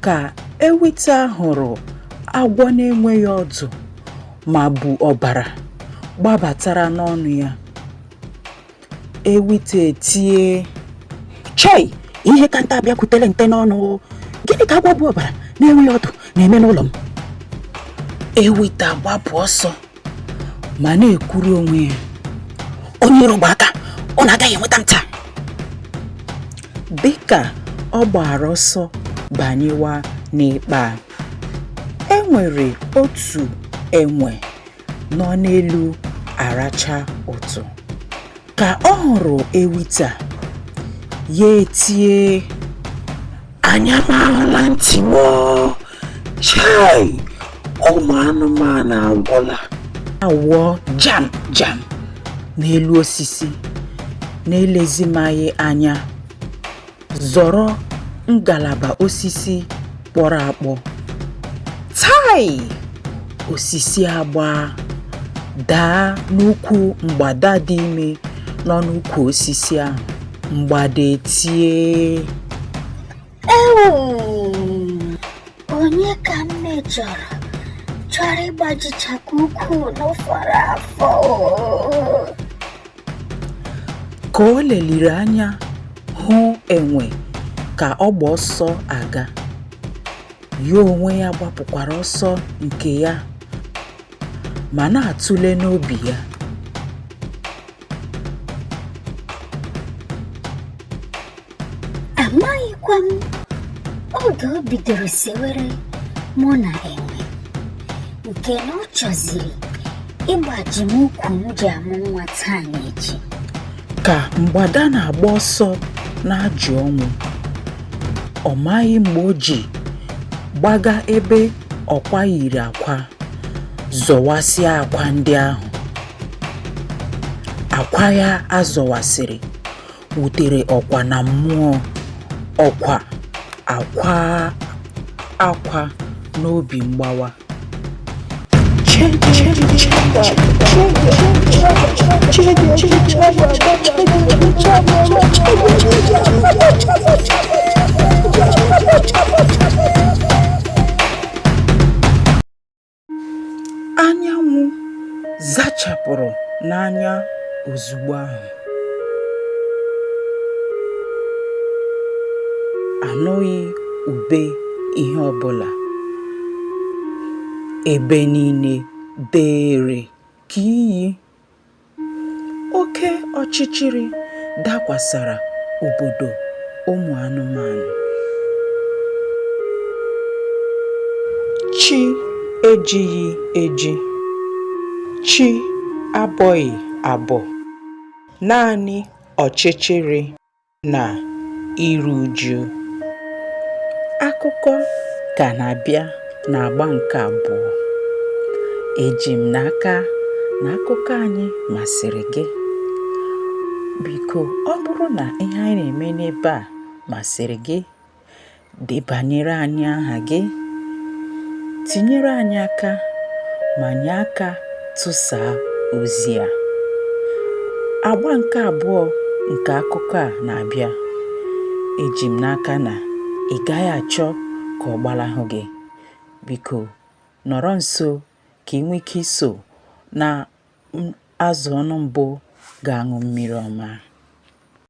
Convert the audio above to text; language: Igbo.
ka ewita hụrụ agwọ na-enweghị ọdụ ma bu ọbara gbabatara n'ọnụ ya ewita etie chei ihe ka nte abịakwutele nte n'ọnụ gịnị ka agwọ bu ọbara na-enweghị ọdụ na-eme n'ụlọ m ewita gbapụ ọsọ ma na-ekwuru onwe ya onye iro gba aka ọ na-agaghị enweta m taa dịka ọ gbara ọsọ banyewa n'ikpa e nwere otu enwe nọ n'elu aracha utu ka ọ hụrụ ewita ya etie anya m ahụla ntị m chai ụmụ anụmanụ agwụla awụọ jam jam n'elu osisi na-elezimaghị anya Zọrọ ngalaba osisi kpọrọ akpọ. Tai! Osisi agbaa daa n'ukwu mgbada dị ime nọ n'ukwu osisi ahụ. Mgbada etie. Ewu! Onye ka m mejọrọ? Chọrọ ịgbajichapụ ukwu n'ụfọdụ afọ. Ka o leliri anya hụ enwe ka ọ gba ọsọ aga, ya onwe ya gbapụkwara ọsọ nke ya ma na-atụle n'obi ya. amaghịkwa m oge o bidoro sewere mụ na enwe nke na ọ chọziri ịgbaji m ukwu m ji amụ nwa taa na echi ka mgbada na-agba ọsọ na-ajụ ọnwụ ọ maghị mgbe o ji gbaga ebe ọkwa yiri akwa zọwasịa akwa ndị ahụ akwa ya azọwasịrị wutere ọkwa na mmụọ ọkwa akwa akwa n'obi mgbawa Anyanwụ zachapụrụ n'anya ozugbo ahụ. Anụghị ube ihe ọbụla. Ebe niile deere ka iyi. Oke ọchịchịrị dakwasara obodo ụmụ anụmanụ. Chi ejighị eji. Chi abọghị abọ. Naanị ọchịchịrị. nà iru uju akụkọ kà nà-àbịa n'àgba ǹkè àbụọ ejì m n'aka nà akụkọ anyị màsị̀rị̀ gị bìkò ọ bụrụ nà ihe anyị nà-ème n'ebe à màsị̀rị̀ gị Debanyere anyị aha gị, tinyere anyị aka ma nye aka tụsaa ozi a. Agba nke abụọ nke akụkọ a na-abịa. Eji m n'aka na ị gaghị achọ ka ọ gbalahụ gị. Biko, nọrọ nso ka ị nwee ike iso na azụ ọnụ mbụ ga-aṅụ mmiri ọma.